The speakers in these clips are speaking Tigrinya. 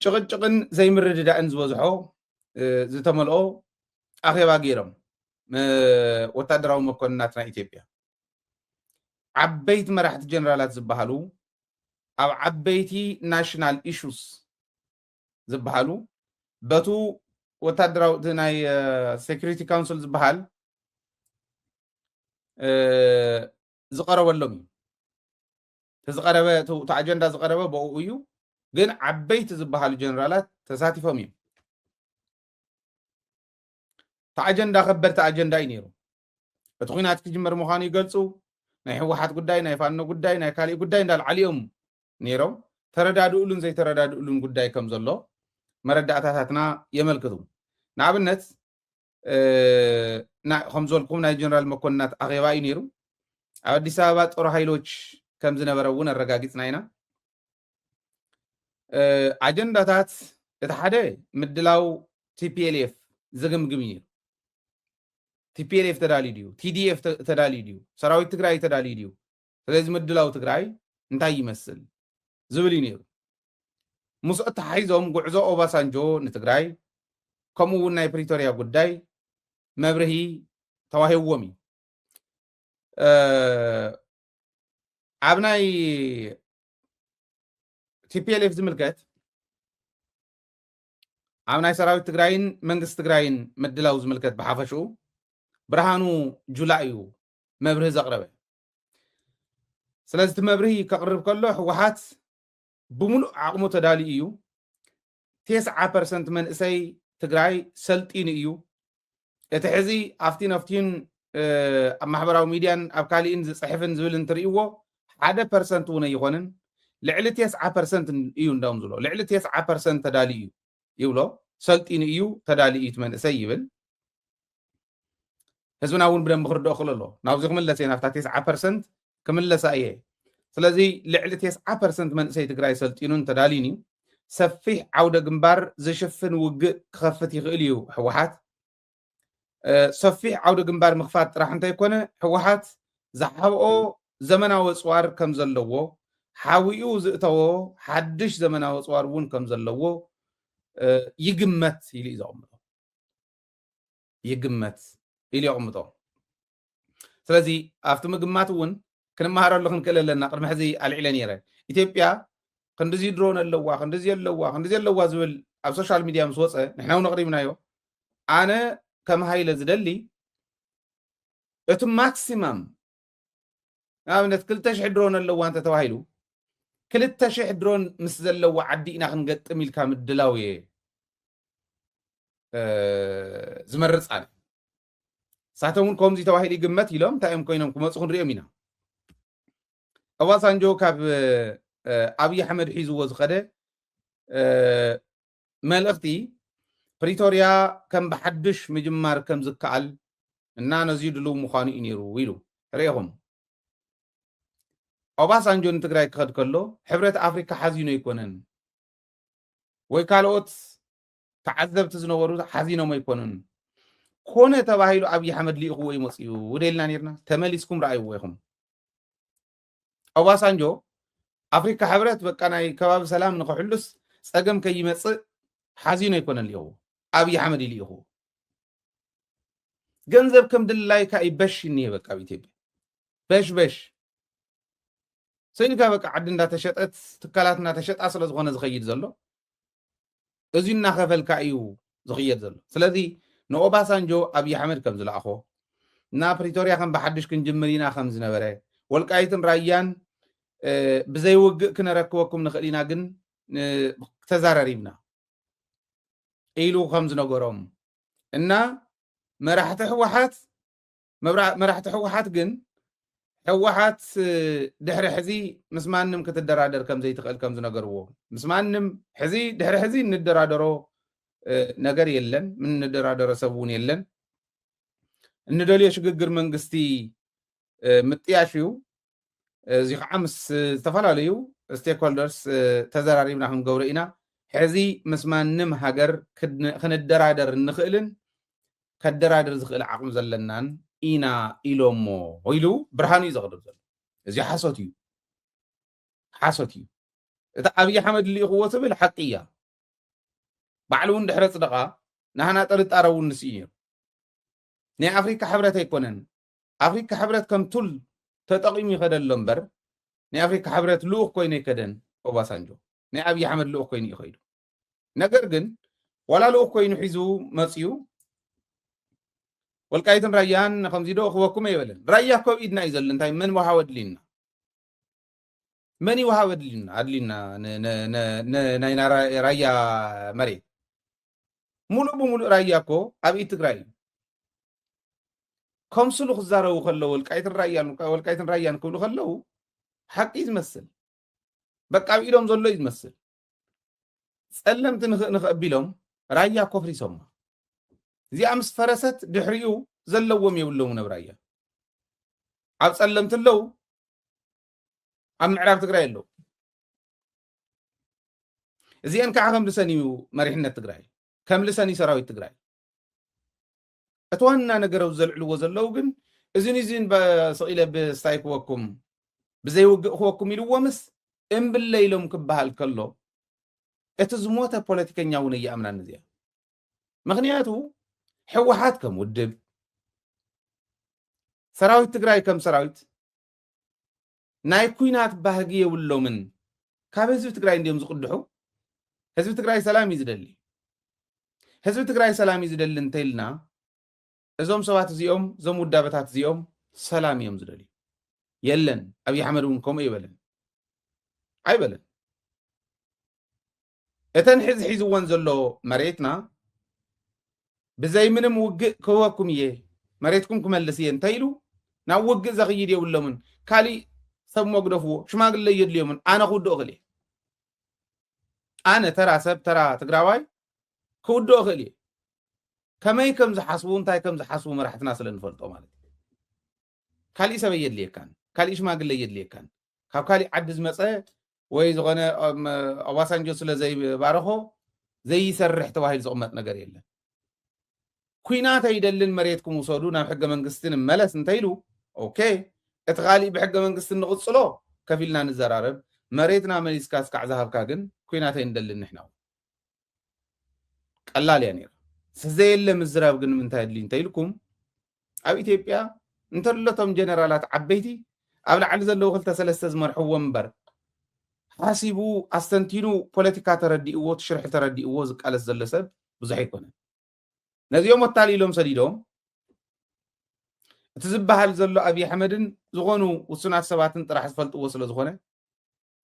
ጭቕጭቕን ዘይምርድዳእን ዝበዝሖ ዝተመልኦ ኣኼባ ገይሮም ወታደራዊ መኮንናት ናይ ኢትዮጵያ ዓበይቲ መራሕቲ ጀነራላት ዝበሃሉ ኣብ ዓበይቲ ናሽናል ኢሹስ ዝበሃሉ በቱ ወታደራዊ እቲ ናይ ሴኩሪቲ ካውንስል ዝበሃል ዝቐረበሎም እዩ እቲ ዝቐረበ እቲ ኣጀንዳ ዝቐረበ ብኡ እዩ ግን ዓበይቲ ዝበሃሉ ጀነራላት ተሳቲፎም እዮም እቲ ኣጀንዳ ከበድቲ ኣጀንዳ እዩ ነይሩ እቲ ኩናት ክጅመር ምዃኑ ይገልፁ ናይ ህወሓት ጉዳይ ናይ ፋኖ ጉዳይ ናይ ካሊእ ጉዳይ እንዳልዓሉ እዮም ነይሮም ተረዳድእሉን ዘይተረዳድእሉን ጉዳይ ከም ዘሎ መረዳእታታትና የመልክቱ ንኣብነት ከም ዝበልኩም ናይ ጀነራል መኮንናት ኣኼባ እዩ ነይሩ። ኣብ ኣዲስ ኣበባ ጦር ሃይሎች ከም ዝነበረ እውን ኣረጋጊፅና ኢና። ኣጀንዳታት እቲ ሓደ ምድላው ቲፒኤልኤፍ ዝግምግም እዩ። ቲፒኤልኤፍ ተዳልዩ ድዩ? ቲዲኤፍ ተዳልዩ ድዩ? ሰራዊት ትግራይ ተዳልዩ ድዩ? ስለዚ ምድላው ትግራይ እንታይ ይመስል ዝብል እዩ ነይሩ። ምስኡ ኣተሓሒዞም ጉዕዞ ኦባሳንጆ ንትግራይ ከምኡ እውን ናይ ፕሪቶርያ ጉዳይ መብርሂ ተዋሂብዎም እዩ። ኣብ ናይ ቲፒኤልኤፍ ዝምልከት ኣብ ናይ ሰራዊት ትግራይን መንግስቲ ትግራይን ምድላው ዝምልከት ብሓፈሽኡ ብርሃኑ ጁላ እዩ መብርሂ ዘቕረበ ስለዚ እቲ መብርሂ ከቕርብ ከሎ ህወሓት ብምሉእ ዓቕሙ ተዳልዩ እዩ ቴስዓ ፐርሰንት መንእሰይ ትግራይ ሰልጢኑ እዩ እቲ ሕዚ ኣብቲን ኣብቲን ኣብ ማሕበራዊ ሚድያን ኣብ ካሊእን ዝፅሕፍን ዝብል እንትርእይዎ ሓደ ፐርሰንት እውን ኣይኾንን ልዕሊ ቴስዓ ፐርሰንት እዩ እንዳም ዝብሎ ልዕሊ ቴስዓ ፐርሰንት ተዳልዩ እዩ ይብሎ ሰልጢኑ እዩ ተዳልዩ እቲ መንእሰይ ይብል ህዝብና እውን ብደንቢ ክርድኦ ክእሎ ኣለዎ ናብዚ ክምለስ እየ ናብታ ቴስዓ ፐርሰንት ክምለሳ እየ ስለዚ ልዕሊ ቴስዓ ፐርሰንት መንእሰይ ትግራይ ሰልጢኑን ተዳልዩን እዩ ሰፊሕ ዓውደ ግንባር ዝሽፍን ውግእ ክኸፍት ይኽእል እዩ ህወሓት ሰፊሕ ዓውደ ግንባር ምኽፋት ጥራሕ እንተይኮነ ህወሓት ዝሓብኦ ዘመናዊ ፅዋር ከም ዘለዎ ሓዊኡ ዝእተዎ ሓድሽ ዘመናዊ ፅዋር እውን ከም ዘለዎ ይግመት ኢሉ እዩ ዘቕምጦ ይግመት ኢሉ የቕምጦ። ስለዚ ኣብቲ ምግማት እውን ክንመሃረሉ ክንክእል ኣለና። ቅድሚ ሕዚ ኣልዒለ ነይረ ኢትዮጵያ ክንዲዚ ድሮን ኣለዋ ክንዲዚ ኣለዋ ክንዲዚ ኣለዋ ዝብል ኣብ ሶሻል ሚድያ ምስ ወፀ ንሕና እውን ኣቕሪብናዮ ኣነ ከም ሃይለ ዝደሊ እቲ ማክሲማም ንኣብነት ክልተ ሽሕ ድሮን ኣለዋ እንተተባሂሉ ክልተ ሽሕ ድሮን ምስ ዘለዎ ዓዲ ኢና ክንገጥም ኢልካ ምድላው እየ ዝመርፅ ኣነ ንሳቶም እውን ከምዚ ተባሂሉ ይግመት ኢሎም እንታይ እዮም ኮይኖም ክመፁ ክንሪኦም ኢና ኦባሳንጆ ካብ ኣብዪ ኣሕመድ ሒዝዎ ዝኸደ መልእኽቲ ፕሪቶርያ ከም ብሓዱሽ ምጅማር ከም ዝከኣል እና ነዙይ ድልው ምዃኑ እዩ ነይሩ ኢሉ። ርኢኹም ኦባሳንጆ ንትግራይ ክኸድ ከሎ ሕብረት ኣፍሪካ ሓዚኖ ኣይኮነን ወይ ካልኦት ተዓዘብቲ ዝነበሩ ሓዚኖም ኣይኮኑን ኮነ ተባሂሉ ኣብዪ ኣሕመድ ልኢኽዎ ይመፅኡ ውደልና ነርና ተመሊስኩም ረኣይዎ ኢኹም ኦባሳንጆ ኣፍሪካ ሕብረት በቃ ናይ ከባቢ ሰላም ንክሕሉስ ፀገም ከይመፅእ ሓዚኖ ኣይኮነ ልኢኹዎ ኣብይ ኣሕመድ ይልኢኹዎ ገንዘብ ከም ድላይካ እዩ በሽ እኒሄ በቃ ኣብ ኢትዮጵያ በሽ በሽ ሰይልካ በቃ ዓዲ እንዳተሸጠት ትካላት እንዳተሸጣ ስለ ዝኾነ ዝኸይድ ዘሎ እዚ እናኸፈልካ እዩ ዝኽየድ ዘሎ ስለዚ ንኦባሳንጆ ኣብይ ኣሕመድ ከም ዝለኣኾ እና ፕሪቶርያ ከም ብሓድሽ ክንጅምር ኢና ከም ዝነበረ ወልቃይትን ራያን ብዘይውግእ ክነረክበኩም ንኽእል ኢና ግን ተዛራሪብና ኢሉ ከም ዝነገሮም እና መራሕቲ ህወሓት መራሕቲ ሕወሓት ግን ሕወሓት ድሕሪ ሕዚ ምስ ማንም ክትደራደር ከምዘይትኽእል ከም ዝነገርዎ ምስ ማንም ሕዚ ድሕሪ ሕዚ እንደራደሮ ነገር የለን ምንደራደረ ሰብ እውን የለን እንደልዮ ሽግግር መንግስቲ ምጥያሽ እዩ እዚ ከዓ ምስ ዝተፈላለዩ ስቴክሆልደርስ ተዘራሪብና ክንገብሮ ኢና ሕዚ ምስ ማንም ሃገር ክንደራደር እንኽእልን ከደራድር ዝኽእል ዓቕሚ ዘለናን ኢና ኢሎሞ ኢሉ ብርሃኑ እዩ ዘቕርብ ዘሎ እዚ ሓሶት እዩ ሓሶት እዩ እቲ ኣብዪ ሓመድ ልኢኽዎ ትብል ሓቂ እያ ባዕሉ እውን ድሕረ ፅደቓ ንሃና ጥርጣረ እውን ንስእዩ ናይ ኣፍሪካ ሕብረት ኣይኮነን ኣፍሪካ ሕብረት ከም ቱል ተጠቂሙ ይኸደሎ እምበር ናይ ኣፍሪካ ሕብረት ልኡኽ ኮይኑ ኣይከደን ኦባሳንጆ ናይ ኣብይ ኣሕመድ ልኡኽ ኮይኑ እዩ ከይዱ ነገር ግን ዋላ ልኡኽ ኮይኑ ሒዙ መፅዩ ወልቃይትን ራያን ከምዚ ዶ ክበኩም ኣይበለን ራያ እኮ ኣብ ኢድና እዩ ዘሎ እንታይ መን ዋሃ ወድሊና መን ይውሃብ ኣድልዩና ንናይና ራያ መሬት ሙሉእ ብሙሉእ ራያ እኮ ኣብ ኢድ ትግራይ እዩ ከምስሉ ክዛረቡ ከለው ወልቃይትን ራያን ወልቃይትን ራያን ክብሉ ከለው ሓቂ እዩ ዝመስል በቃ ኣብ ኢዶም ዘሎ እዩ ዝመስል ፀለምቲ ንኸቢሎም ራያ ኮፍሪሶማ እዚኣ ምስ ፈረሰት ድሕሪኡ ዘለዎም የብሎምን ኣብ ራያ ኣብ ፀለምቲ ኣለው ኣብ ምዕራብ ትግራይ ኣለዉ እዚአን ከዓ ከምልሰን እዩ መሪሕነት ትግራይ ከምልሰን እዩ ሰራዊት ትግራይ እቲ ዋና ነገር ኣብ ዘልዕልዎ ዘለዉ ግን እዚን እዚን ስቂለ ብስታይ ክወኩም ብዘይውግእ ክወኩም ኢልዎምስ እምብለ ኢሎም ክበሃል ከሎ እቲ ዝሞተ ፖለቲከኛ እውን እየኣምናን እዚኣ ምክንያቱ ሕወሓት ከም ውድብ ሰራዊት ትግራይ ከም ሰራዊት ናይ ኩናት ባህጊ የብሎምን ካብ ህዝቢ ትግራይ እንዲዮም ዝቅድሑ ህዝቢ ትግራይ ሰላም እዩ ዝደሊ ህዝቢ ትግራይ ሰላም እዩ ዝደሊ እንተኢልና እዞም ሰባት እዚኦም እዞም ውዳበታት እዚኦም ሰላም እዮም ዝደልዩ የለን ኣብዪ ኣሕመድ እውን ከምኡ ይበለን ኣይበለን እተን ሕዚ ሒዝወን ዘሎ መሬትና ብዘይ ምንም ውግእ ክህበኩም እየ መሬትኩም ክመልስ እየ እንተኢሉ ናብ ውግእ ዘኽይድ የብሎምን ካሊእ ሰብ መግደፍዎ ሽማግለ እየድልዮምን ኣነ ክውድኦ እኽእል እየ ኣነ ተራ ሰብ ተራ ትግራዋይ ክውድኦ እኽእል እየ ከመይ ከም ዝሓስቡ እንታይ ከም ዝሓስቡ መራሕትና ስለ ንፈልጦ ማለት እዩ ካሊእ ሰብ ኣየድልየካን ካሊእ ሽማግለ ኣየድልየካን ካብ ካሊእ ዓዲ ዝመፀ ወይ ዝኾነ ኦባሳንጆ ስለ ዘይባረኾ ዘይሰርሕ ተባሂሉ ዝቕመጥ ነገር የለን ኩናት ኣይደልን መሬትኩም ውሰዱ ናብ ሕገ መንግስቲ ንመለስ እንተይሉ ኦኬ እቲ ካሊእ ብሕገ መንግስቲ ንቕፅሎ ከፊልና ንዘራረብ መሬትና መሊስካ እስካዕ ዝሃብካ ግን ኩናት ኣይንደልን ንሕና ቀላል እያ ነይራ ዘየለ ምዝራብ ግን ምንታይ ኣድልዩ እንተኢልኩም ኣብ ኢትዮጵያ እንተለቶም ጀነራላት ዓበይቲ ኣብ ላዕሊ ዘለዉ ክልተ ሰለስተ ዝመርሕዎ እምበር ሓሲቡ ኣስተንቲኑ ፖለቲካ ተረዲእዎ ትሽርሒ ተረዲእዎ ዝቃለስ ዘሎ ሰብ ብዙሕ ኣይኮነን ነዚኦም ወታሊሎም ሰዲዶም እቲ ዝበሃል ዘሎ ኣብዪ ኣሕመድን ዝኾኑ ውሱናት ሰባትን ጥራሕ ዝፈልጥዎ ስለ ዝኾነ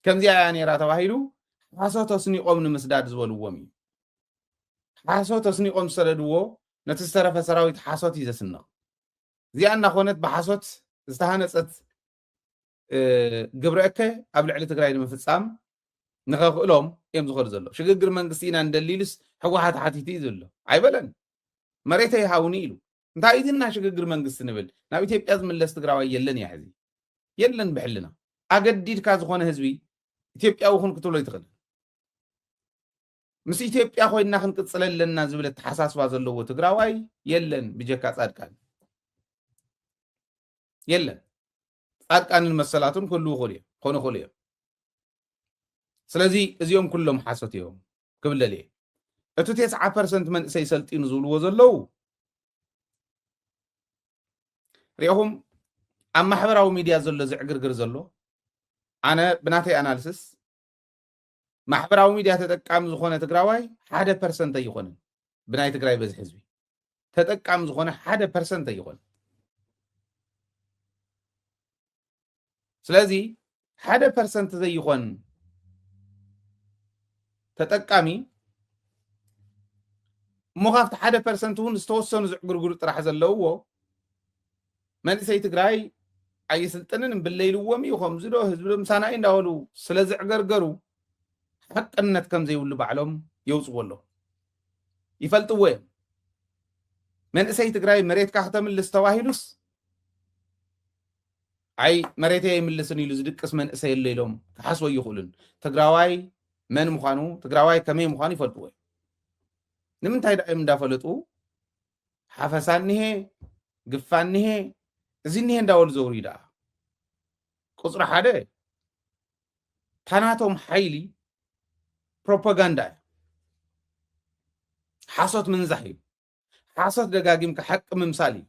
ከምዚኣ እያ ነይራ ተባሂሉ ሓሶት ኣስኒቖም ንምስዳድ ዝበልዎም እዩ። ሓሶት ኣስኒቖም ዝሰደድዎ ነቲ ዝተረፈ ሰራዊት ሓሶት እዩ ዘስንቕ። እዚኣ እናኾነት ብሓሶት ዝተሃነፀት ግብረ እከ ኣብ ልዕሊ ትግራይ ንምፍፃም ንኸኽእሎም እዮም ዝኸዱ ዘሎ ሽግግር መንግስቲ ኢና ንደሊ ኢሉስ ሕወሓት ሓቲቱ እዩ ዘሎ ኣይበለን መሬተይ ሃውኒ ኢሉ እንታይ እዩ ግን ናይ ሽግግር መንግስቲ ንብል ናብ ኢትዮጵያ ዝምለስ ትግራዋይ የለን እያ ሕዚ የለን ብሕልና ኣገዲድካ ዝኾነ ህዝቢ ኢትዮጵያዊ ኹን ክትብሎ ይትኽእል ምስ ኢትዮጵያ ኮይና ክንቅፅለ ኣለና ዝብል ኣተሓሳስባ ዘለዎ ትግራዋይ የለን ብጀካ ፃድቃን የለን ጻድቃንን መሰላቱን ክህልዉ ይኽእሉ እዮም ክኾኑ ይኽእሉ እዮም ስለዚ እዚኦም ኩሎም ሓሶት እዮም ክብል ደልየ እቲ ቴስዓ ፐርሰንት መንእሰይ ሰልጢኑ ዝብልዎ ዘለዉ ሪኹም ኣብ ማሕበራዊ ሚድያ ዘሎ ዝዕግርግር ዘሎ ኣነ ብናተይ ኣናልስስ ማሕበራዊ ሚድያ ተጠቃሚ ዝኾነ ትግራዋይ ሓደ ፐርሰንት ኣይኾንን ብናይ ትግራይ በዝሒ ህዝቢ ተጠቃሚ ዝኾነ ሓደ ፐርሰንት ኣይኾንን ስለዚ ሓደ ፐርሰንት ዘይኾን ተጠቃሚ እሞ ካብቲ ሓደ ፐርሰንት እውን ዝተወሰኑ ዝዕግርግሩ ጥራሕ ዘለውዎ መንእሰይ ትግራይ ኣይስልጥንን እምብለ ኢልዎም እዩ ከምዚ ዶ ህዝቢ ዶ ምሳና እዩ እንዳበሉ ስለ ዝዕገርገሩ ሓቅነት ከም ዘይብሉ ባዕሎም የውፅዎ ኣለዉ ይፈልጥዎ እዮም መንእሰይ ትግራይ መሬትካ ክተምልስ ተባሂሉስ ኣይ መሬተይ ኣይምልስን ኢሉ ዝድቅስ መንእሰይ ኣሎ ኢሎም ክሓስቦ ይኽእሉን ትግራዋይ መን ምዃኑ ትግራዋይ ከመይ ምዃኑ ይፈልጥዎ እዮም ንምንታይ ዳእዮም እንዳፈለጡ ሓፈሳ እኒሀ ግፋ እኒሀ እዚ እኒሀ እንዳበሉ ዘውርዩ ደኣ ቁፅሪ ሓደ ታናቶም ሓይሊ ፕሮፓጋንዳ እዩ ሓሶት ምንዛሕ እዩ ሓሶት ደጋጊምካ ሓቂ ምምሳል እዩ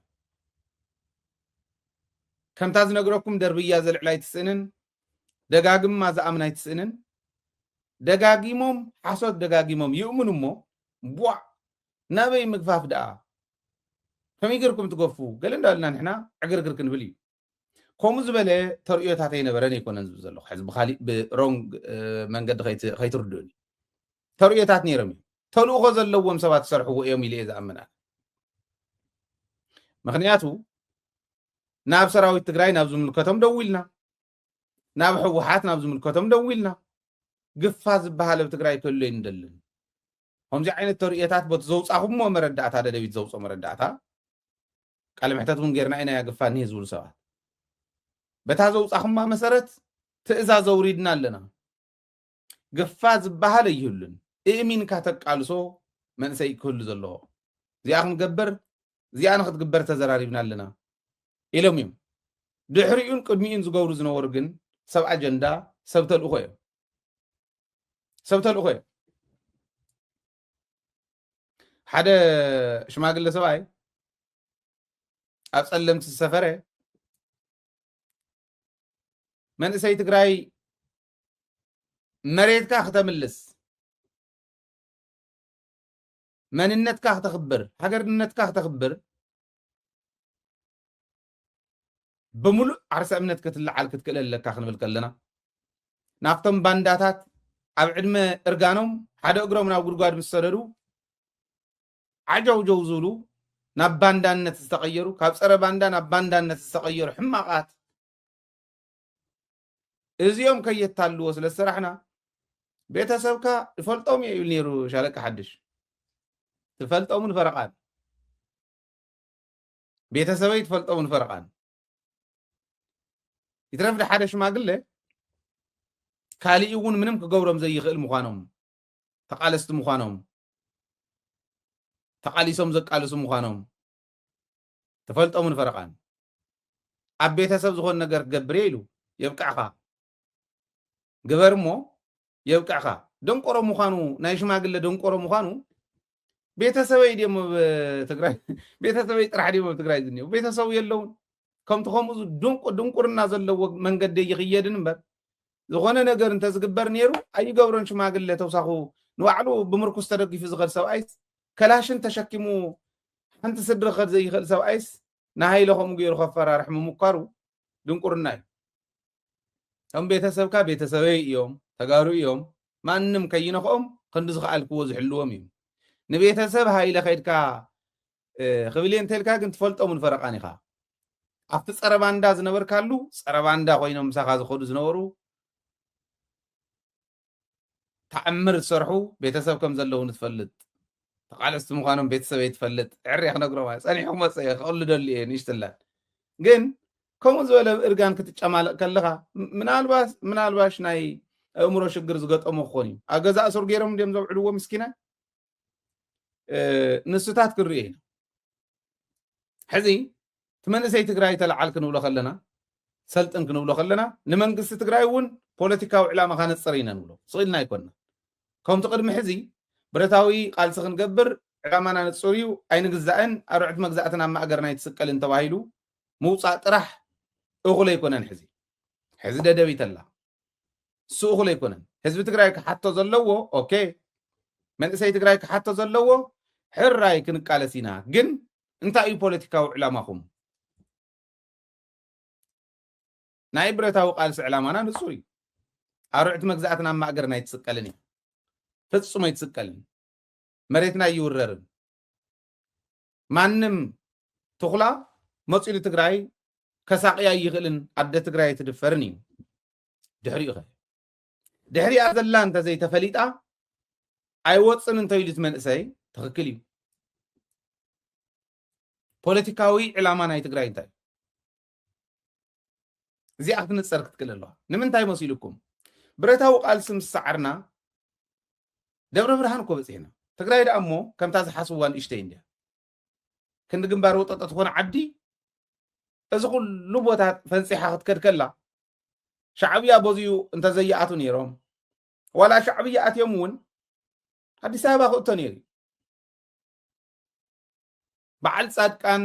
ከምታ ዝነግረኩም ደርብያ ዘልዕላ ኣይትስእንን ደጋግማ ዝኣምና ኣይትስእንን ደጋጊሞም ሓሶት ደጋጊሞም ይእምኑ እሞ ቧዕ ናበይ ምግፋፍ ደኣ ከመይ ጌርኩም ትገፉ ገለ እንዳበልና ንሕና ዕግርግር ክንብል እዩ ከምኡ ዝበለ ተርእዮታት ኣይነበረን ኣይኮነን ዝብል ዘለኹ ሕዚ ብካሊእ ብሮንግ መንገዲ ከይትርድኡኒ ተርእዮታት ነይሮም እዮም ተልእኾ ዘለዎም ሰባት ዝሰርሕዎ እዮም ኢለ እየ ዝኣምን ምክንያቱ ናብ ሰራዊት ትግራይ ናብ ዝምልከቶም ደው ኢልና ናብ ህወሓት ናብ ዝምልከቶም ደው ኢልና ግፋ ዝበሃል ኣብ ትግራይ ከሎ ይንደልን ከምዚ ዓይነት ተርእዮታት በቲ ዘውጻኹምዎ መረዳእታ ደደቢት ዘውጽኦ መረዳእታ ቃለ መሕተት እውን ጌርና ኢና ያግፋ እኒሀ ዝብሉ ሰባት በታ ዘውጻኹማ መሰረት ትእዛዝ ኣውሪድና ኣለና ግፋ ዝበሃል ኣይህሉን እእሚንካ ተቃልሶ መንእሰይ ክህሉ ዘለዎ እዚኣ ክንገብር እዚኣ ንክትግበር ተዘራሪብና ኣለና ኢሎም እዮም ድሕሪኡን ቅድሚኡን ዝገብሩ ዝነበሩ ግን ሰብ ኣጀንዳ ሰብ ተልእኮ እዮም ሰብ ተልእኾ እዮም ሓደ ሽማግለ ሰብኣይ ኣብ ፀለምቲ ዝሰፈረ መንእሰይ ትግራይ መሬትካ ክተምልስ መንነትካ ክተኽብር ሃገርነትካ ክተኽብር ብምሉእ ዓርሰ እምነት ክትለዓል ክትክእል ኣለካ ክንብል ከለና ናብቶም ባንዳታት ኣብ ዕድመ እርጋኖም ሓደ እግሮም ናብ ጉድጓድ ምስ ሰደዱ ዓጀውጀው ዝብሉ ናብ ባንዳነት ዝተቐየሩ ካብ ፀረ ባንዳ ናብ ባንዳነት ዝተቐየሩ ሕማቓት እዚኦም ከየታልዎ ስለ ዝሰራሕና ቤተሰብካ ይፈልጦም እየ ይብል ነይሩ ሻለቃ ሓድሽ ትፈልጦምን ፈረቓን ቤተሰበይ ትፈልጦ ውን ፈረቓን ይትረፍ ዶ ሓደ ሽማግለ ካሊእ እውን ምንም ክገብሮም ዘይኽእል ምዃኖም ተቓለስቲ ምዃኖም ተቓሊሶም ዘቃልሱ ምዃኖም ተፈልጦምን ፈረቓን ኣብ ቤተሰብ ዝኾን ነገር ክገብር እየ ኢሉ የብቅዕኻ ግበር እሞ የብቅዕካ ደንቆሮ ምዃኑ ናይ ሽማግለ ደንቆሮ ምዃኑ ቤተሰበይ ድዮም ኣብ ትግራይ ቤተሰበይ ጥራሕ ድዮም ኣብ ትግራይ ዝኒው ቤተሰቡ የለውን ከምቲ ከምኡ ድንቁ ድንቁርና ዘለዎ መንገዲ ይኽየድን እምበር ዝኾነ ነገር እንተዝግበር ነይሩ ኣይገብሮን ሽማግለ ተውሳኹ ንባዕሉ ብምርኩስ ተደጊፉ ዝኸድ ሰብኣይስ ከላሽን ተሸኪሙ ሓንቲ ስድሪ ክኸድ ዘይኽእል ሰብኣይስ ንሃይለ ከምኡ ገይሩ ከፈራርሕ ምምኳሩ ድንቁርና እዩ እቶም ቤተሰብካ ቤተሰበይ እዮም ተጋሩ እዮም ማንም ከይነኽኦም ክንዲ ዝኸኣልክዎ ዝሕልዎም እዩ ንቤተሰብ ሃይለ ከድካ ክብልየ እንተልካ ግን ትፈልጦምን ፈረቃን ኢኻ ኣብቲ ፀረ ባንዳ ዝነበርካሉ ፀረ ባንዳ ኮይኖም ምሳኻ ዝኸዱ ዝነበሩ ታዕምር ዝሰርሑ ቤተሰብ ከም ዘለዉኒ ትፈልጥ ተቓለስቲ ምዃኖም ቤተሰበይ ትፈልጥ ዕርየ ክነግሮም ኣየ ጸኒሑ ክመጽእ እየ ከቕሉ ደሊ እየ ንእሽትላን ግን ከምኡ ዝበለ እርጋን ክትጨማለቕ ከለኻ ምናልባሽ ምናልባሽ ናይ ኣእምሮ ሽግር ዝገጠሞ ክኾን እዩ ኣብ ገዛ እሱር ገይሮም እንዲዮም ዘውዕልዎ ምስኪናይ ንስታት ክንርኢ ኢና ሕዚ እቲ መንእሰይ ትግራይ ተለዓል ክንብሎ ከለና ሰልጥን ክንብሎ ከለና ንመንግስቲ ትግራይ እውን ፖለቲካዊ ዕላማ ካነፅር ኢና ንብሎ ስኢልና ኣይኮንና ከምቲ ቅድሚ ሕዚ ብረታዊ ቃልሲ ክንገብር ዕላማና ንፁር እዩ ኣይንግዛእን ኣርዕት መግዛእትን ኣብ ማእገርና ኣይትስቀልን ተባሂሉ ምውፃእ ጥራሕ እኹል ኣይኮነን ሕዚ ሕዚ ደደቢት ኣላ ንሱ እኹል ኣይኮነን ህዝቢ ትግራይ ክሓቶ ዘለዎ ኦኬ መንእሰይ ትግራይ ክሓቶ ዘለዎ ሕራይ ክንቃለስ ኢና ግን እንታይ እዩ ፖለቲካዊ ዕላማኹም ናይ ብረታዊ ቃልሲ ዕላማና ንጹር እዩ ኣርዕቲ መግዛእትን ኣብ ማእገርና ኣይትስቀልን እዩ ፍጹም ኣይትስቀልን መሬትና ይውረርን ማንም ትኹላ መፂኡ ንትግራይ ከሳቅያ ኣይኽእልን ኣደ ትግራይ ኣይትድፈርን እዩ ድሕሪኡ ኸ ድሕሪኣ ዘላ እንተዘይተፈሊጣ ኣይወፅን እንተኢሉ እቲ መንእሰይ ትኽክል እዩ ፖለቲካዊ ዕላማ ናይ ትግራይ እንታይ እዚኣ ክትንፀር ክትክእል ኣለዋ ንምንታይ መሲልኩም ብረታዊ ቃልሲ ምስ ሰዓርና ደብረ ብርሃን እኮ በፂሕና ትግራይ ደኣ እሞ ከምታ ዝሓስብዋ ንእሽተይ እንድያ ክንዲ ግንባር ወጠጠ ትኾነ ዓዲ እዚ ኩሉ ቦታ ፈንፂሓ ክትከድ ከላ ሻዕብያ በዚኡ እንተዘይኣቱ ነይሮም ዋላ ሻዕብያ ኣትዮም እውን ኣዲስ ኣበባ ክእቶ ነይሩ በዓል ፃድቃን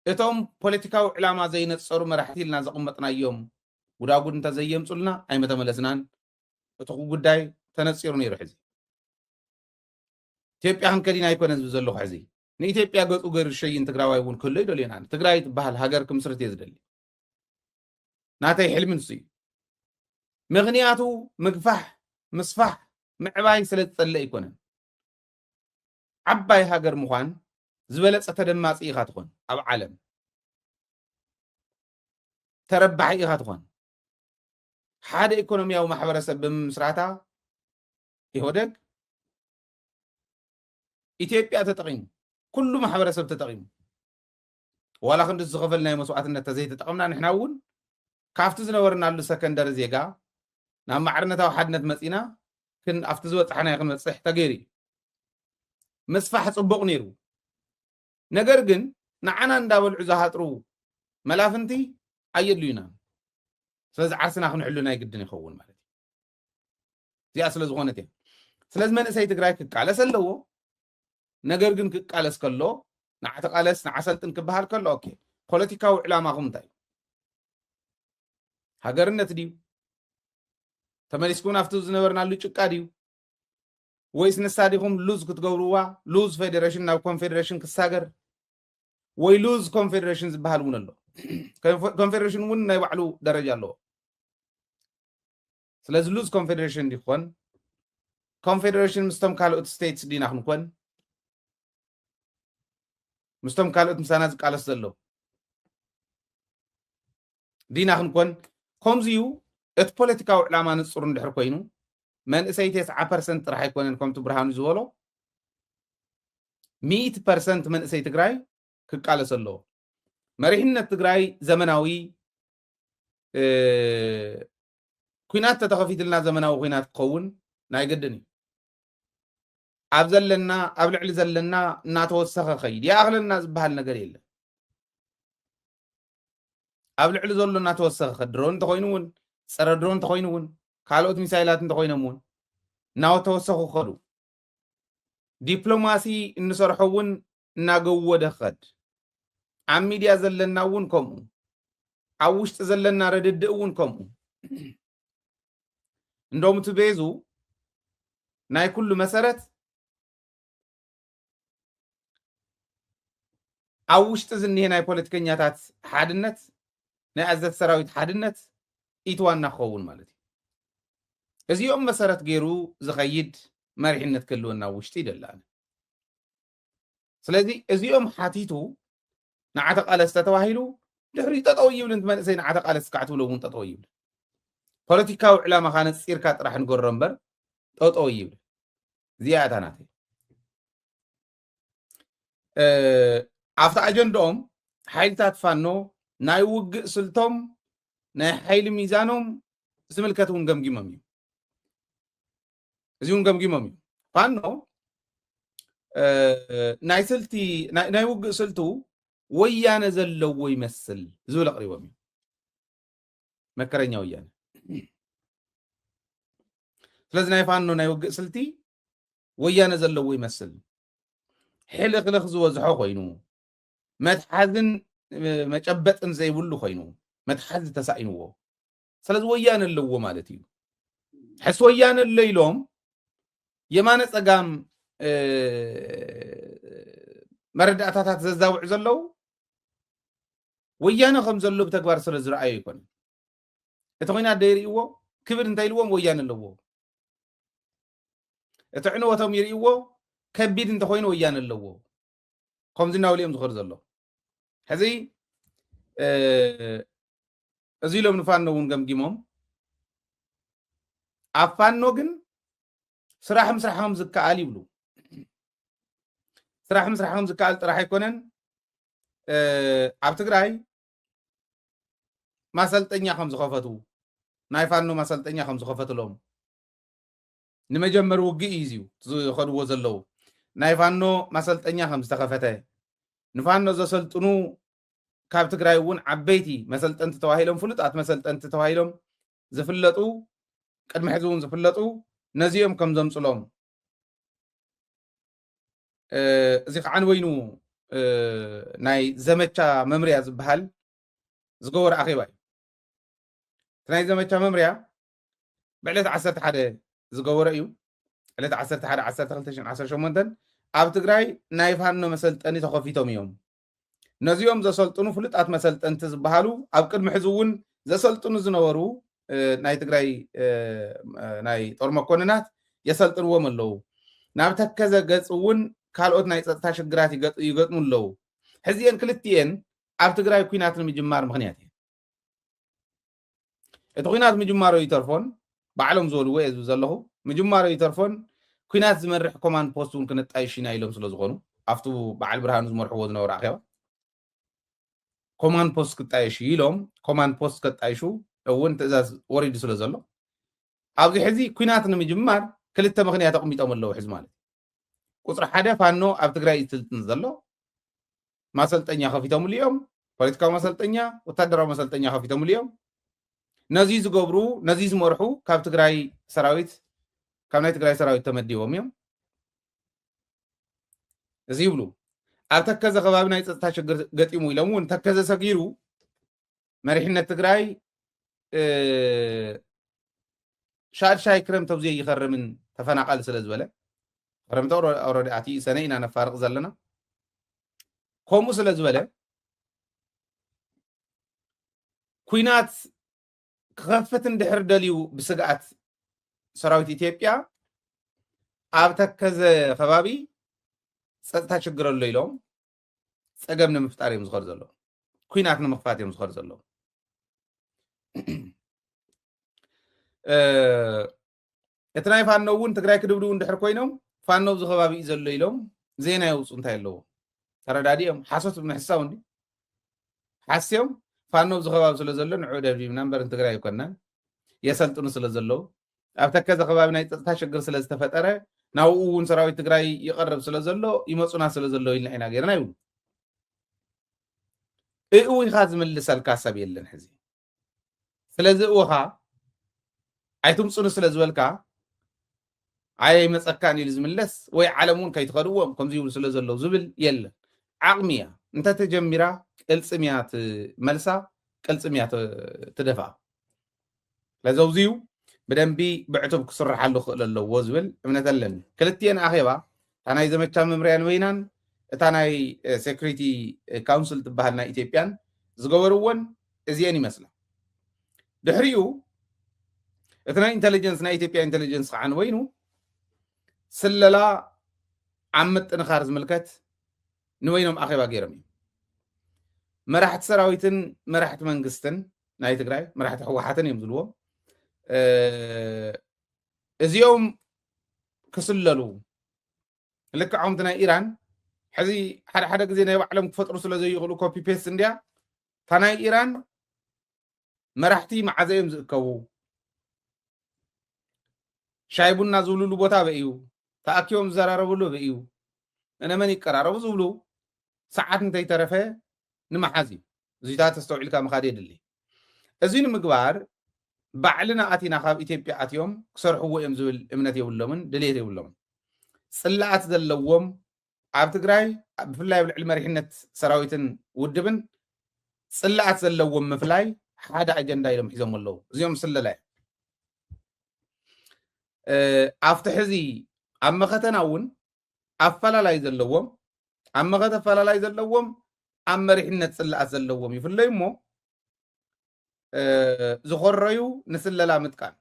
እቶም ፖለቲካዊ ዕላማ ዘይነጸሩ መራሕቲ ኢልና ዘቐመጥናዮም ጉዳጉድ እንተዘየምጹልና ኣይምተመለስናን፣ እቲ ጉዳይ ተነጺሩ ነይሩ ሕዚ ኢትዮጵያ ክንከድ ኢና ኣይኮነን ዝብል ዘለኹ ሕዚ ንኢትዮጵያ ገጹ ገሩ ዝሸይን ትግራዋይ እውን ክህሎ ይደልዮን ኣነ ትግራይ ትበሃል ሃገር ክምስርት እየ ዝደሊ ናተይ ሕልሚ ንሱ እዩ ምክንያቱ ምግፋሕ ምስፋሕ ምዕባይ ስለ ዝጸለ ኣይኮነን ዓባይ ሃገር ምዃን ዝበለጸ ተደማጺ ኢኻ ትኾን ኣብ ዓለም ተረባሒ ኢኻ ትኾን ሓደ ኢኮኖሚያዊ ማሕበረሰብ ብምምስራታ ኢህወደግ ኢትዮጵያ ተጠቂሙ ኩሉ ማሕበረሰብ ተጠቂሙ ዋላ ክንዲ እቲ ዝኸፈልናዮ መስዋእትነት ተዘይተጠቐምና ንሕና እውን ካብቲ ዝነበርናሉ ሰከንደሪ ዜጋ ናብ ማዕርነታዊ ሓድነት መፂና ክን ኣብቲ ዝበፃሕናዮ ክንበፅሕ ተገይሩ እዩ ምስፋሕ ፅቡቕ ነይሩ ነገር ግን ንዓና እንዳበልዑ ዝሃጥሩ መላፍንቲ ኣየድልዩናን ስለዚ ዓርስና ክንሕሉ ናይ ግድን ይኸውን ማለት እዩ እዚኣ ስለ ዝኾነት እያ ስለዚ መንእሰይ ትግራይ ክቃለስ ኣለዎ ነገር ግን ክቃለስ ከሎ ንዓ ተቃለስ ንዓ ሰልጥን ክበሃል ከሎ ኦኬ ፖለቲካዊ ዕላማኹም እንታይ እዩ ሃገርነት ድዩ ተመሊስኩም ናብቲ ዝነበርናሉ ጭቃ ድዩ ወይስ ንሳ ዲኹም ሉዝ ክትገብርዋ ሉዝ ፌዴሬሽን ናብ ኮንፌዴሬሽን ክሳገር ወይ ሉዝ ኮንፌዴሬሽን ዝበሃል እውን ኣሎ ኮንፌዴሬሽን እውን ናይ ባዕሉ ደረጃ ኣለዎ ስለዚ ሉዝ ኮንፌደሬሽን እንዲ ክኾን ኮንፌደሬሽን ምስቶም ካልኦት ስቴትስ ዲና ክንኮን ምስቶም ካልኦት ምሳና ዝቃለስ ዘለዉ ዲና ክንኮን ከምዚ እዩ እቲ ፖለቲካዊ ዕላማ ንፁር እንድሕር ኮይኑ መንእሰይ ቴስዓ ፐርሰንት ጥራሕ ኣይኮነን ከምቲ ብርሃኑ ዝበሎ ሚእቲ ፐርሰንት መንእሰይ ትግራይ ክቃለስ ኣለዎ መሪሕነት ትግራይ ዘመናዊ ኩናት ተተኸፊትልና ዘመናዊ ኩናት ክኸውን ናይ ግድን እዩ ኣብ ዘለና ኣብ ልዕሊ ዘለና እናተወሰኸ ኸይድ ይኣኽለና ዝበሃል ነገር የለን ኣብ ልዕሊ ዘሎ እናተወሰኸ ኸ ድሮን እንተኮይኑ እውን ፀረ ድሮን እንተኮይኑ እውን ካልኦት ሚሳይላት እንተኮይኖም እውን እናተወሰኹ ከዱ ዲፕሎማሲ እንሰርሖ እውን እናገወደ ክኸድ፣ ኣብ ሚድያ ዘለና እውን ከምኡ፣ ኣብ ውሽጢ ዘለና ርድድእ እውን ከምኡ። እንደውም እቲ ቤዙ ናይ ኩሉ መሰረት ኣብ ውሽጢ ዝኒሄ ናይ ፖለቲከኛታት ሓድነት ናይ ኣዘት ሰራዊት ሓድነት ኢቲ ዋና ክኸውን ማለት እዩ። እዚኦም መሰረት ገይሩ ዝኸይድ መሪሕነት ክህልወና ኣብ ውሽጢ ይደሊ ኣነ። ስለዚ እዚኦም ሓቲቱ ንዓ ተቃለስ ተተባሂሉ ድሕሪኡ ጠጠው ይብል ንቲ መንእሰይ ንዓ ተቃለስ ካዕ ትብሎ እውን ጠጠው ይብል ፖለቲካዊ ዕላማኻ ነፂርካ ጥራሕ ንገሮ እምበር ጠጠው ይብል እዚኣ እታ ናተይ ኣብቲ ኣጀንድኦም ሓይልታት ፋኖ ናይ ውግእ ስልቶም ናይ ሓይሊ ሚዛኖም ዝምልከት እውን ገምጊሞም እዩ እዚውን ገምጊሞም እዩ ፋኖ ናይ ስልቲ ናይ ውግእ ስልቱ ወያነ ዘለዎ ይመስል ዝብል ኣቕሪቦም እዩ መከረኛ ወያነ ስለዚ ናይ ፋኖ ናይ ውግእ ስልቲ ወያነ ዘለዎ ይመስል ሕልኽልኽ ዝበዝሖ ኮይኑ መትሓዝን መጨበጥን ዘይብሉ ኮይኑ መትሓዚ ተሳኢንዎ ስለዚ ወያነ ኣለዎ ማለት እዩ ሕስ ወያነ ኣሎ ኢሎም የማነ ፀጋም መረዳእታታት ዘዛውዑ ዘለው ወያነ ከም ዘሎ ብተግባር ስለ ዝረኣዩ ይኮነ እቲ ኮይናት ደይርእዎ ክብል እንታይ ኢልዎም ወያነ ኣለዎ እቲ ዕንወቶም ይርእዎ ከቢድ እንተኮይኑ ወያነ ኣለዎ ከምዚ እናበሉ እዮም ዝኸዱ ዘሎ ሕዚ እዚ ኢሎም ንፋኖ እውን ገምጊሞም ኣብ ፋኖ ግን ስራሕ ምስራሕ ከም ዝከኣል ይብሉ ስራሕ ምስራሕ ከም ዝከኣል ጥራሕ ኣይኮነን ኣብ ትግራይ ማሰልጠኛ ከም ዝኸፈቱ ናይ ፋኖ ማሰልጠኛ ከም ዝኸፈትሎም ንመጀመሪ ውግእ እዩ እዚው ዝኸድዎ ዘለው ናይ ፋኖ ማሰልጠኛ ከም ዝተኸፈተ ንፋኖ ዘሰልጥኑ ካብ ትግራይ እውን ዓበይቲ መሰልጠንቲ ተባሂሎም ፍሉጣት መሰልጠንቲ ተባሂሎም ዝፍለጡ ቅድሚ ሕዚ እውን ዝፍለጡ ነዚኦም ከም ዘምፅሎም እዚ ከዓ ንበይኑ ናይ ዘመቻ መምርያ ዝበሃል ዝገበረ ኣኼባ እዩ እቲ ናይ ዘመቻ መምርያ ብዕለት ዓሰርተ ሓደ ዝገበሮ እዩ ዕለት ዓሰርተ ሓደ ዓሰርተ ክልተ ሽን ዓሰርተ ሸሞንተን ኣብ ትግራይ ናይ ፋኖ መሰልጠኒ ተኸፊቶም እዮም ነዚኦም ዘሰልጥኑ ፍሉጣት መሰልጠንቲ ዝበሃሉ ኣብ ቅድሚ ሕዚ እውን ዘሰልጥኑ ዝነበሩ ናይ ትግራይ ናይ ጦር መኮንናት የሰልጥንዎም ኣለዉ ናብ ተከዘ ገፅ እውን ካልኦት ናይ ፀጥታ ሽግራት ይገጥሙ ኣለዉ ሕዚኤን ክልትኤን ኣብ ትግራይ ኩናት ንምጅማር ምክንያት እየን እቲ ኩናት ምጅማሮ ይተርፎን ባዕሎም ዝበልዎ እየ ዝብል ዘለኹ ምጅማሮ ይተርፎን ኩናት ዝመርሕ ኮማንድ ፖስት እውን ክነጣይሽ ኢና ኢሎም ስለ ዝኾኑ ኣብቲ በዓል ብርሃኑ ዝመርሕዎ ዝነበሩ ኣኼባ ኮማንድ ፖስት ክጣየሽ እዩ ኢሎም ኮማንድ ፖስት ከጣይሹ እውን ትእዛዝ ወሪዱ ስለ ዘሎ ኣብዚ ሕዚ ኩናት ንምጅማር ክልተ ምክንያት ኣቕሚጦም ኣለዉ ሕዚ ማለት ቁፅሪ ሓደ ፋኖ ኣብ ትግራይ እዩ ስልጥን ዘሎ ማሰልጠኛ ከፊቶምሉ እዮም ፖለቲካዊ መሰልጠኛ ወታደራዊ መሰልጠኛ ከፊቶምሉ እዮም ነዚ ዝገብሩ ነዚ ዝመርሑ ካብ ትግራይ ሰራዊት ካብ ናይ ትግራይ ሰራዊት ተመዲቦም እዮም እዚ ይብሉ ኣብ ተከዘ ከባቢ ናይ ፀጥታ ሽግር ገጢሙ ኢሎም እውን ተከዘ ሰጊሩ መሪሕነት ትግራይ ሻድሻይ ክረምት ኣብዙ ይኸርምን ተፈናቐል ስለ ዝበለ ክረምቲ ኦልሬዲ ኣትዩ ሰነ ኢና ነፋርቕ ዘለና ከምኡ ስለ ዝበለ ኩናት ክኸፍት እንድሕር ደልዩ ብስግኣት ሰራዊት ኢትዮጵያ ኣብ ተከዘ ከባቢ ፀጥታ ችግር ኣሎ ኢሎም ፀገም ንምፍጣር እዮም ዝኸዱ ዘለዉ ኩናት ንምኽፋት እዮም ዝኸዱ ዘለዉ እቲ ናይ ፋኖ እውን ትግራይ ክድብድቡ እንድሕር ኮይኖም ፋኖ ኣብዚ ከባቢ እዩ ዘሎ ኢሎም ዜና የውፁ እንታይ ኣለዎ ተረዳዲኦም ሓሶት ብምሕሳው እንዲ ሓስዮም ፋኖ ኣብዚ ከባቢ ስለ ዘሎ ንዑ ደብዲብና እምበር ንትግራይ ኣይኮናን የሰልጥኑ ስለ ዘለዉ ኣብ ተከዘ ከባቢ ናይ ፀፅታ ሽግር ስለዝተፈጠረ ናብኡ እውን ሰራዊት ትግራይ ይቐርብ ስለዘሎ ይመፁና ስለዘሎ ኢልና ኢና ገይርና ይብሉ እእዊኻ ዝምልሰልካ ሰብ የለን ሕዚ ስለዚ እወኻ ኣይትምፁኒ ስለ ዝበልካ ኣየ ይመፀካን ኢሉ ዝምለስ ወይ ዓለም እውን ከይትኸድዎም ከምዚ ይብሉ ስለ ዘለዉ ዝብል የለን ዓቕሚ እያ እንተተጀሚራ ቅልፅም እያ ትመልሳ ቅልፅም እያ ትደፍኣ ስለዚ ኣብዚዩ ብደንቢ ብዕቱብ ክስርሓሉ ክእል ኣለዎ ዝብል እምነት ኣለኒ ክልትኤን ኣኼባ እታ ናይ ዘመቻ መምርያን ወይናን እታ ናይ ሴኩሪቲ ካውንስል ትበሃል ናይ ኢትዮጵያን ዝገበርዎን እዚኤን ይመስላ ድሕሪኡ እቲ ናይ ኢንቴሊጀንስ ናይ ኢትዮጵያ ኢንቴሊጀንስ ከዓ ንወይኑ ስለላ ኣብ ምጥንኻር ዝምልከት ንወይኖም ኣኼባ ገይሮም እዩ መራሕቲ ሰራዊትን መራሕቲ መንግስትን ናይ ትግራይ መራሕቲ ህወሓትን እዮም ዝልዎም እዚኦም ክስለሉ ልክዕ ከምቲ ናይ ኢራን ሕዚ ሓደ ሓደ ግዜ ናይ ባዕሎም ክፈጥሩ ስለ ዘይኽእሉ ኮፒ ፔስት እንድያ እታ ናይ ኢራን መራሕቲ መዓዘ እዮም ዝእከቡ ሻይ ቡና ዝብልሉ ቦታ በ እዩ ተኣኪቦም ዝዘራረብሉ በ እዩ እነመን ይቀራረቡ ዝብሉ ሰዓት እንተይተረፈ ንምሓዝ እዩ እዚታት ኣስተውዒልካ ምኻድ የድሊ። እዚ ንምግባር ባዕልና ኣቲና ካብ ኢትዮጵያ ኣትዮም ክሰርሕዎ እዮም ዝብል እምነት የብሎምን፣ ድልየት የብሎምን። ፅላኣት ዘለዎም ኣብ ትግራይ ብፍላይ ኣብ ልዕሊ መሪሕነት ሰራዊትን ውድብን ፅላኣት ዘለዎም ምፍላይ ሓደ ኣጀንዳ ኢሎም ሒዞም ኣለዉ። እዚኦም ስለላ እዮም። ኣብቲ ሕዚ ኣብ መኸተና እውን ኣፈላላይ ዘለዎም ኣብ መኸተ ኣፈላላይ ዘለዎም ኣብ መሪሕነት ፅላኣት ዘለዎም ይፍለዩ እሞ ዝኾረዩ ንስለላ ምጥቃም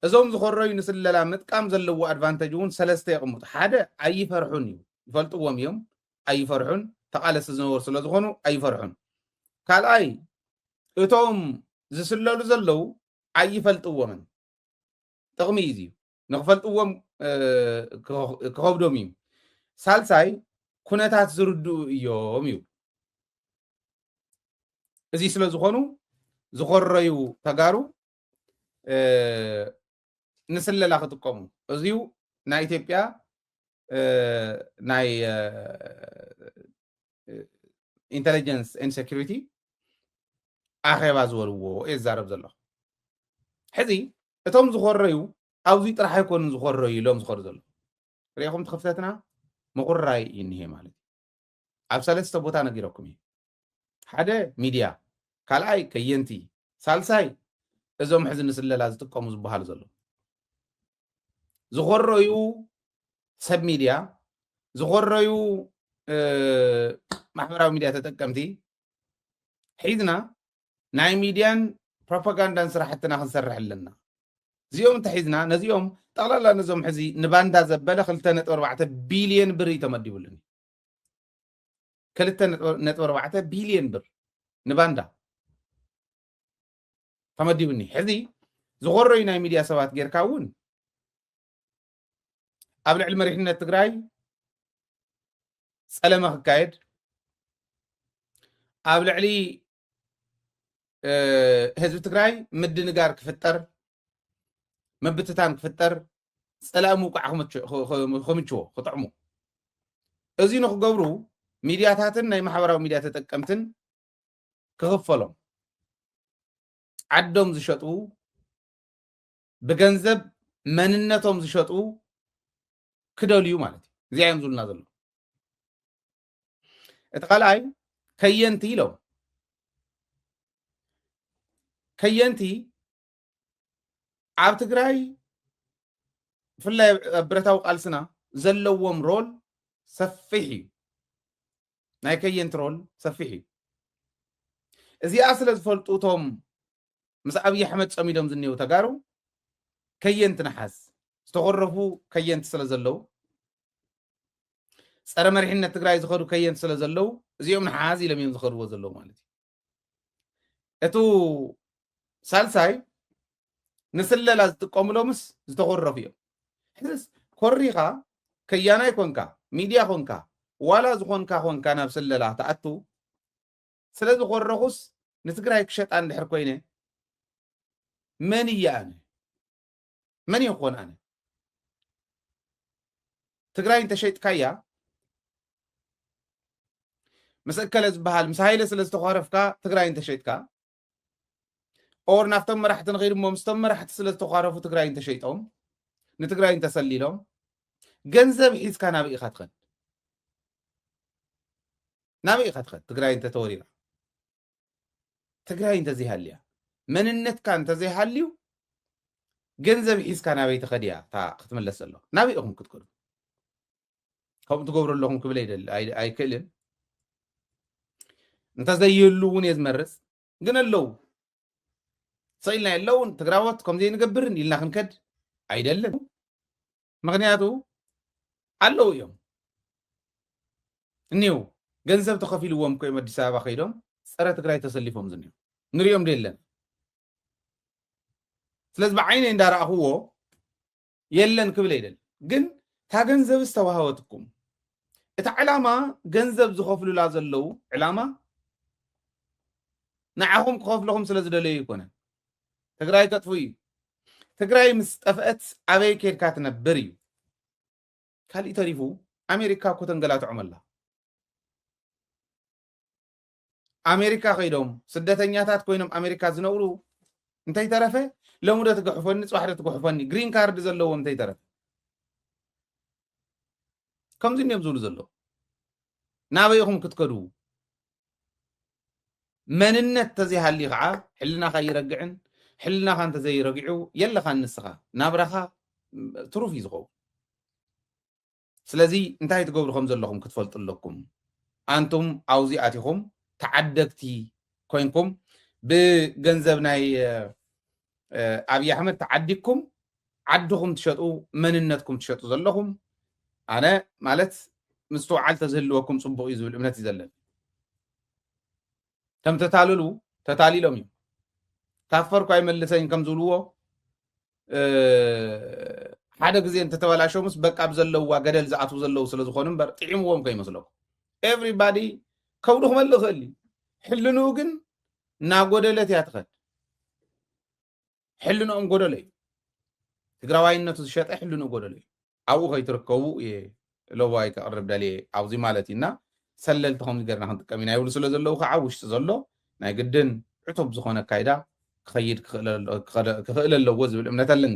እዞም ዝኾረዩ ንስለላ ምጥቃም ዘለዎ ኣድቫንተጅ እውን ሰለስተ የቕምጡ ሓደ ኣይፈርሑን እዩ ይፈልጥዎም እዮም ኣይፈርሑን ተቓለሲ ዝነበሩ ስለ ዝኾኑ ኣይፈርሑን ካልኣይ እቶም ዝስለሉ ዘለዉ ኣይፈልጥዎምን ጥቕሚ እዩ ንክፈልጥዎም ክኸብዶም እዩ ሳልሳይ ኩነታት ዝርድኡ እዮም ይብሉ እዚ ስለ ዝኾኑ ዝኾረዩ ተጋሩ ንስለላ ክጥቀሙ እዚዩ ናይ ኢትዮጵያ ናይ ኢንቴሊጀንስ ን ሴኪሪቲ ኣኼባ ዝበልዎ የዛረብ ዘለኹ ሕዚ እቶም ዝኾረዩ ኣብዙይ ጥራሕ ኣይኮኑን ዝኾረዩ ኢሎም ዝኸዱ ዘለዉ ሪኢኹም ትኽፍተትና ምቑራይ እዩ እኒሄ ማለት ኣብ ሰለስተ ቦታ ነጊረኩም እዩ ሓደ ሚድያ ካልኣይ ከየንቲ ሳልሳይ እዞም ሕዚ ንስለላ ዝጥቀሙ ዝበሃሉ ዘሎ ዝኾረዩ ሰብ ሚድያ ዝኾረዩ ማሕበራዊ ሚድያ ተጠቀምቲ ሒዝና ናይ ሚድያን ፕሮፓጋንዳን ስራሕትና ክንሰርሕ ኣለና። እዚኦም እንተሒዝና ነዚኦም ጠቕላላ ነዞም ሕዚ ንባንዳ ዘበለ ክልተ ነጥቢ ኣርባዕተ ቢልየን ብር እዩ ተመዲቡሉኒ። ክልተ ነጥቢ ኣርባዕተ ቢልየን ብር ንባንዳ ተመዲቡኒ። ሕዚ ዝኾረዩ ናይ ሚድያ ሰባት ጌርካ እውን ኣብ ልዕሊ መሪሕነት ትግራይ ፀለመ ክካየድ ኣብ ልዕሊ ህዝቢ ትግራይ ምድንጋር ክፍጠር ምብትታን ክፍጠር ፀላኢ ምውቃዕ ክምችዎ ክጥዕሙ እዚ ንክገብሩ ሚድያታትን ናይ ማሕበራዊ ሚድያ ተጠቀምትን ክኽፈሎም ዓዶም ዝሸጡ ብገንዘብ መንነቶም ዝሸጡ ክደልዩ ማለት እዩ እዚኣ እዮም ዝብሉና ዘሎ እቲ ካልኣይ ከየንቲ ኢሎም ከየንቲ ኣብ ትግራይ ብፍላይ ኣብ ብረታዊ ቃልስና ዘለዎም ሮል ሰፊሕ እዩ ናይ ከየንቲ ሮል ሰፊሕ እዩ እዚኣ ስለ ዝፈልጡ እቶም ምስ ኣብይ ኣሕመድ ፀሚዶም ዝኔዉ ተጋሩ ከየንቲ ንሓዝ ዝተኾረፉ ከየንቲ ስለ ዘለዉ ፀረ መሪሕነት ትግራይ ዝኸዱ ከየንቲ ስለ ዘለዉ እዚኦም ንሓዝ ኢሎም እዮም ዝኸድዎ ዘለዉ ማለት እዩ እቱ ሳልሳይ ንስለላ ዝጥቀሙሎምስ ዝተኾረፉ እዮም ሕዝስ ኮሪኻ ከያናይ ኮንካ ሚድያ ኮንካ ዋላ ዝኾንካ ኮንካ ናብ ስለላ ትኣቱ ስለ ዝኾረኹስ ንትግራይ ክሸጣ እንድሕር ኮይነ መን እየ ኣነ መን እየ ክኾን ኣነ ትግራይ እንተሸጥካያ ምስ እከለ ዝበሃል ምስ ሃይለ ስለ ዝተኳረፍካ ትግራይ እንተሸጥካ ኦር ናብቶም መራሕቲ ንኸይድ እሞ ምስቶም መራሕቲ ስለ ዝተኳረፉ ትግራይ እንተሸይጦም ንትግራይ እንተሰሊሎም ገንዘብ ሒዝካ ናብ ኢኻ ትኸድ ናበይ ኢኻ ትኸድ ትግራይ እንተተወሪራ ትግራይ እንተዘይሃልያ መንነትካ እንተዘይሃልዩ ገንዘብ ሒዝካ ናበይ ትኸድ እያ እታ ክትምለስ ዘሎ ናበይ ኢኹም ክትከዱ ከምኡ ትገብሩ ኣለኹም ክብል ኣይክእልን እንተዘይህሉ እውን እየ ዝመርፅ ግን ኣለው ሰኢልና የለውን ትግራዎት ከምዘይንገብርን ኢልና ክንከድ ኣይደልን ምክንያቱ ኣለዉ እዮም እኒው ገንዘብ ተኸፊልዎም ኮይም ኣዲስ ኣበባ ከይዶም ፀረ ትግራይ ተሰሊፎም ዝኒ ንሪኦም ደለን ስለዚ ብዓይነ እንዳረእኽዎ የለን ክብል ኣይደል ግን እታ ገንዘብ ዝተዋሃወትኩም እቲ ዕላማ ገንዘብ ዝኸፍሉላ ዘለዉ ዕላማ ንዓኹም ክኸፍልኹም ስለ ዝደለዩ ይኮነን ትግራይ ከጥፉ እዩ ትግራይ ምስ ጠፍአት ኣበይ ኬድካ ትነብር እዩ ካሊእ ተሪፉ ኣሜሪካ እኮ ተንገላትዖም ኣላ ኣሜሪካ ከይዶም ስደተኛታት ኮይኖም ኣሜሪካ ዝነብሩ እንተይተረፈ ሎሚ ዶ ትግሕፈኒ ፅባሕ ዶ ትግሕፈኒ ግሪን ካርድ ዘለዎም እንተይተረፈ ከምዚ እንዲዮም ዝብሉ ዘለዉ ናበይ ኢኹም ክትከዱ መንነት ተዘይሃልዩ ከዓ ሕልናኻ ይረግዕን ሕልናኻ እንተዘይረጊዑ የለኻን ንስኻ ናብራኻ ትሩፍ እዩ ዝኸውን ስለዚ እንታይ ትገብሩ ከም ዘለኹም ክትፈልጡ ኣለኩም ኣንቱም ኣብዙ ኣቲኹም ተዓደግቲ ኮንኩም ብገንዘብ ናይ ኣብዪ ኣሕመድ ተዓዲግኩም ዓድኹም ትሸጡ መንነትኩም ትሸጡ ዘለኹም ኣነ ማለት ምስትውዓል ተዝህልወኩም ፅቡቅ እዩ ዝብል እምነት እዩ ዘለኒ ከም ተታልሉ ተታሊሎም እዩ ታፈርኩ ኣይመልሰኝ ከም ዝብልዎ ሓደ ግዜ እንተተበላሸሙስ በቃ ብዘለውዋ ገደል ዝኣትው ዘለው ስለ ዝኾኑ እምበር ጥዒምዎም ከይመስለኩም ኤቭሪባዲ ከብዱ ክመልእ ይኽእል እዩ ሕልንኡ ግን እናጎደለት እያ ትኸድ ሕልንኦም ጎደሎ እዩ ትግራዋይነቱ ዝሸጠ ሕልንኡ ጎደሎ እዩ ኣብኡ ከይትርከቡ እየ ለዋይ ከቕርብ ደልየ ኣብዚ ማለት እዩና ሰለልቲ ከምዚ ገርና ክንጥቀም ኢና ይብሉ ስለ ዘለዉ ከዓ ውሽጢ ዘሎ ናይ ግድን ዕቱብ ዝኾነ ኣካይዳ ክኸይድ ክኽእል ኣለዎ ዝብል እምነት ኣለኒ